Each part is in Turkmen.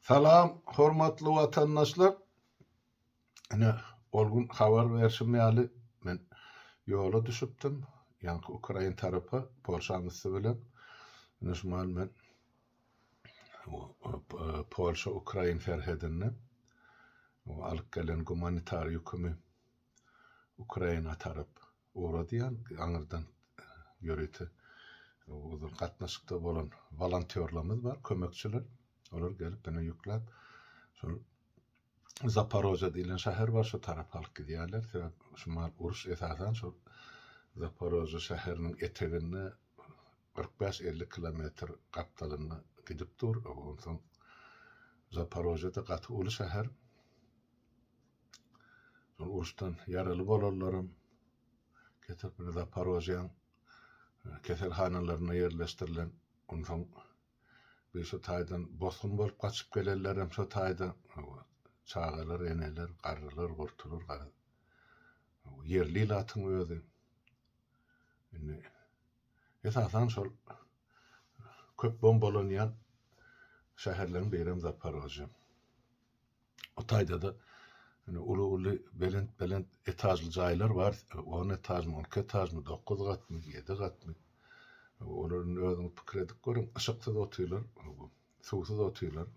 Salam, hormatly watandaşlar! Ine, ol gün habar berşim ýaly, men ýola düşüpdim, ýaňky ukrain tarapa, Polşanyň üsti bilen. Ine, şu mahaly men Polşa-ukrain serhedinde alyp gelen gumanitar ýükümi Ukraina tarap Ugradýan aňyrdan ýörite ozal gatnaşykda bolan wolontýorlarymyz bar, kömekçiler. Olar gelip meni ýükläp şol Zaparoja diýlen şäher bar şu tarapa alyp gidýärler. Sebäp şu mal uruş esasan şol Zaparoja şäheriniň eteginde kyrk bäş elli kilometr gapdalynda gidip dur. Onsoň Zaparožada gaty uly şäher. Şol uruşdan ýaraly bolanlaram getirip indi Zaporojýäň keselhanalarynda ýerleşdirilen. Onsoň bir şu taýdan bosgun bolup gaçyp gelenlerem şu taýda çagalar, eneler, garrylar, gurtular garaz. Ýerli ilatyň özi indi esasan şol köp bombalanýan şäherleriň birem Zaporojýe. O taýda-da indi uly-uly, belent-belent etažly jaýlar bar. On etažmy, on iki etažmy, dokuz gatmy, ýedi gatmy. Olar indi özüňiz pikir edip görüň, yşyksyz otyrlar, suwsuz otyrlar.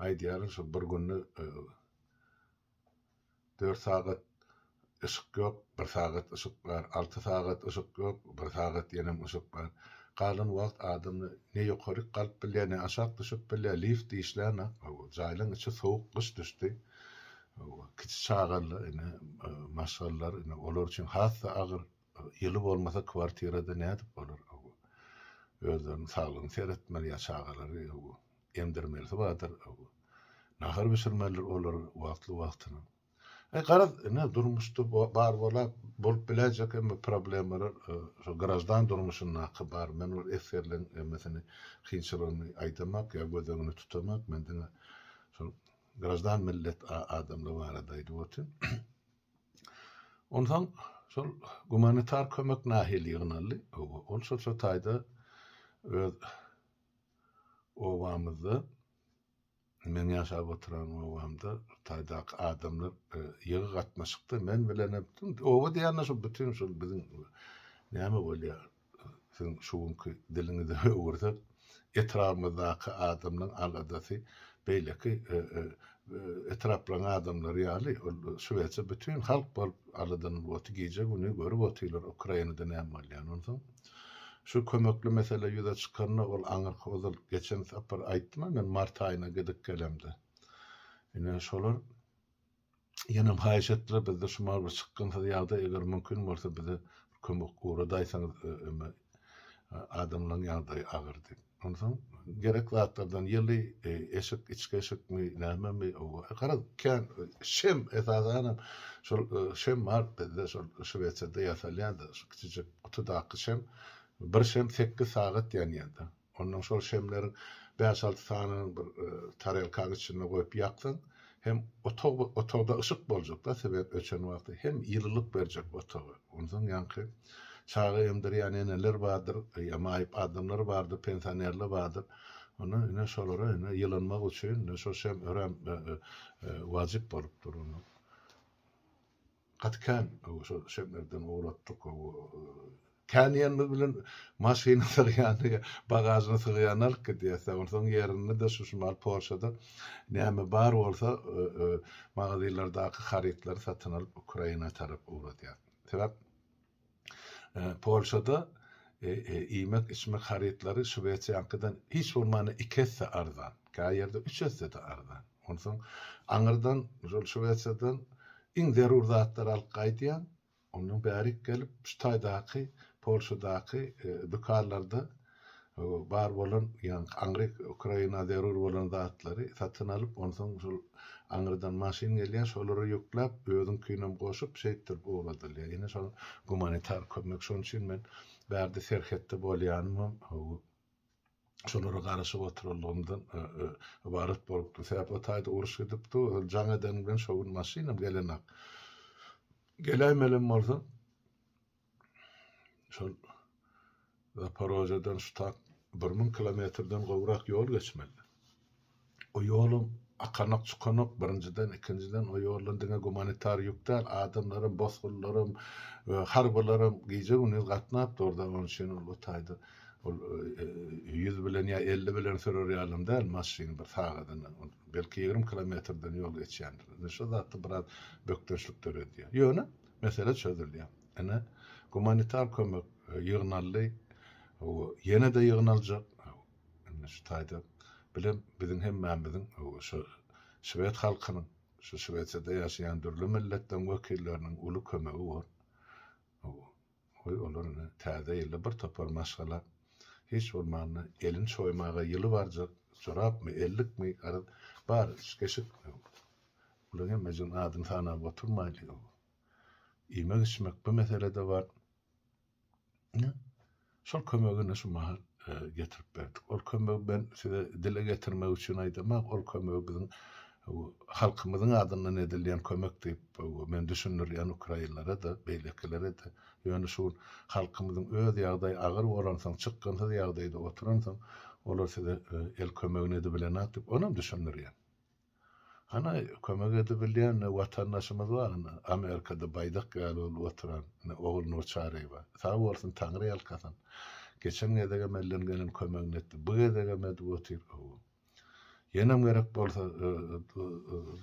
Aýdýaryn, şol bir günde Dört sagat yşyk ýok, bir sagat yşyk bar, alty sagat yşyk ýok, bir sagat ýenem yşyk bar. Galan wagt adam ne ýokaryk galyp bilýär, ne aşak düşüp bilýär, lift işlänok. Hawa, jaýlaryň içi sowuk, gyş düşdi. Hawa, kiçi çagalar, ine, maşgalalar, ine, olar üçin has-da agyr. Ýyly bolmasa kwartirada nädip bolar owo. Özleriniň saglygyny seretmeli ýa çagalary owo. Emdirmelisi bardyr owo. Nahar bişirmelidir olar wagtly wagtyna. E garaz ine durmuşda bar bola bolup biläýjek emmi problemalar şo graždan durmuşyndaky bar. Men ol esgerleň emmesini kynçylygyny aýdamak ýa göz öňüne tutamak men diňe şol graždan millet adamlar barada aýdyp otyryn. Onsoň şol gumanitar kömek nahili ýygnaldy. Hawa, ol şol şu taýda öz obamyzda, meň ýaşap oturan obamda şu taýdaky adamlar ýygy gatnaşykda, men bilenem, oba diýende şu bütin şu biziň näme bolýar, siziň şu günki diliňizi öwürsek, etrabymyzdaky adamlaryň aladasy beýleki etraplaryň adamlary ýaly, ol şübhesiz bütin halk bolup aladalanyp otyr, gije-gündiz görüp otyrlar Ukrainada näme bolýanyny. Onsoň şu kömekli mesele ýüze çykanda, ol aňyrky ozal geçen sapar aýtdym-a men mart aýyna gidip gelemde. Ine, şolar. Ýenem haýyş etdiler bizde şumal bir çykgynsyz ýagdaý eger mümkin bolsa bize bir kömek ugradaýsaňyz öme adamlaň ýagdaýy agyr diýip. Onsoň gerek zatlardan ýyly eşik içki eşikmi nämemi garaz kän şem esasanam şol şem bar bizde şol şwesiýada ýasalýanda şu kiçijik gutudaky şem bir şem sekiz sagat ýanýada. Ondan şol şemleriň bäş-alty sanyny bir tarelkaň içinde goýup ýaksaň, hem otag bir otagda yşyk boljak-da, sebäp öçen wagty, hem ýylylyk berjek otaga. Onsoň ýaňky çaga emdirýän eneler bardyr, ýa maýyp adamlar bardyr, pensionerler bardyr. Onda ine şolara ine ýylynmak üçin ine şol şem örän wajyp bolup dur. Gaty kän şol şemlerden ugratdyk. Kän diýenimiz bilen maşyna sygýany, bagažyna sygýany alyp gidýäs-dä. Onsoň ýerinde-de şu şimal Polşada näme bar bolsa magazinlerdaky harytlary satyn alyp Ukraina tarap ugradýas. Sebäp Polşada iýmek-içmek harytlary Şwesiýaňkydan hiç bolmanda iki esse arzan, käý ýerde üç esse-de arzan. Onsoň aňyrdan şol Şwesiýadan iň zerur zatlary alyp gaýdýaň, ondan bärik gelip şu taýdaky Polşadaky dükanlarda bar bolan, ýagny aňry Ukraina zerur bolan zatlary satyn alyp, onsoň şol aňrydan maşyn gelýär, şolara ýükläp, özüňkinem goşup, şeýtdirip ugradylýar. Ine şol gumanitar kömek, şonuň üçin men bärde serhetde bolýanymam, şolara garaşyp oturandygymdan ybarat bolupdym. Sebäp o taýda uruş gidipdi, ol jaň eden bilen şo gün maşynam gelenok. Geläýmelem bolsa, şol Zaporojeden ştat bir müň kilometrden gowrak ýol geçmeli. O ýolum akanak çukanak birinjiden ikinjiden o ýoldan diňe gumanitar ýük däl adamlaram bosgunlaram we harbylaram gije gündiz gatnap durda onuň üçin ol o taýda ol ýüz bilen ýa elli bilen sürer ýalam däl maşyn bir sagadyna belki ýigrimi kilometrden ýol geçýändir indi şo zatda biraz bökdençlik döredýär ýöne Mesele çözülýär. Ine, gumanitar kömek ýygnaldy. Ýene-de ýygnaljak. Indi şu taýda bilem biziň hemmämiziň şu şwed halkynyň, şu Şwesiýada ýaşaýan dürli milletden wekilleriniň uly kömegi bor. Goý olar ine, Täze ýylda bir topar maşgala hiç bolmanda elini çoýmaga ýyly barjak jorapmy, ellikmi, garaz, bar üç-keşik. Olaň hemmejigini adyny sanap oturmaýlyň. Iýmek-içmek bu meselede bar. Ine, şol kömegi ine şu mahal getirip berdik. Ol kömegi men size dile getirmek üçin aýdamak, ol kömegi biziň Halkymyzyň adyndan edilýän kömek diýip men düşündirýän ukrainlere-de, beýlekilere-de. Ýöne şu gün halkymyzyň öz ýagdaýy agyr bolansoň, çykgynsyz ýagdaýda oturansoň, olar size el kömegini edibilenok diýip, onam düşündirýän. Ana, kömek edibilýän watandaşymyz bar, ine, Amerikada baýdak ýaly bolup oturan, ine, Ogulnur Çaryýewa. Sag bolsun, Taňry ýalkasyn. Geçen gezegem elden gelen kömegini etdi. Bu gezegem edip otyr. Ýenem gerek bolsa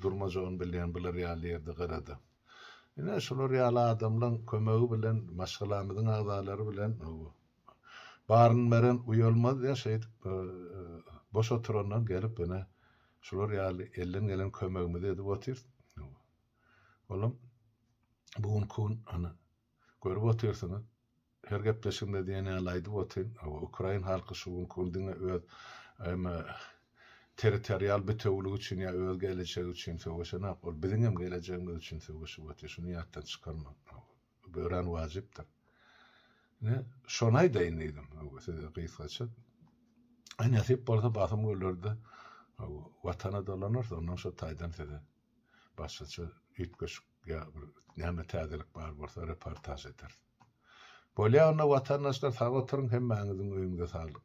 durmajagyn bilýän bular ýaly ýerde garada. Ine şular ýaly adamlaň kömegi bilen maşgalamyzyň agzalary bilen baryn beren uýalmaz ýa şeýdip boş oturandan gelip ine şular ýaly elden gelen kömegimizi edip otyrys. Olam bu günki gün Görüp otyrsyňyz, her gepleşigimde diýen ýaly aýdyp otyryn, hawa, ukrain halky şu günki gün diňe öz eme, territorial bitewiligi üçin ýa öz gelejegi üçin söweşenok, ol biziň hem gelejegimiz üçin söweşip otyr, şuny ýatdan çykarmaň, hawa, bu örän wajypdyr. Ine, şony aýdaýyn diýdim, hawa, size gysgaça. Aý, nesip bolsa, basym gölerde, hawa, Watana dolanarys, onnoň şo taýdan size başgaça üýtgeşik ýa bir näme täzelik bar bolsa reportaž ederis. Bolýa onda watandaşlar sag oturyň hemmäňiziň öýüňize saglyk.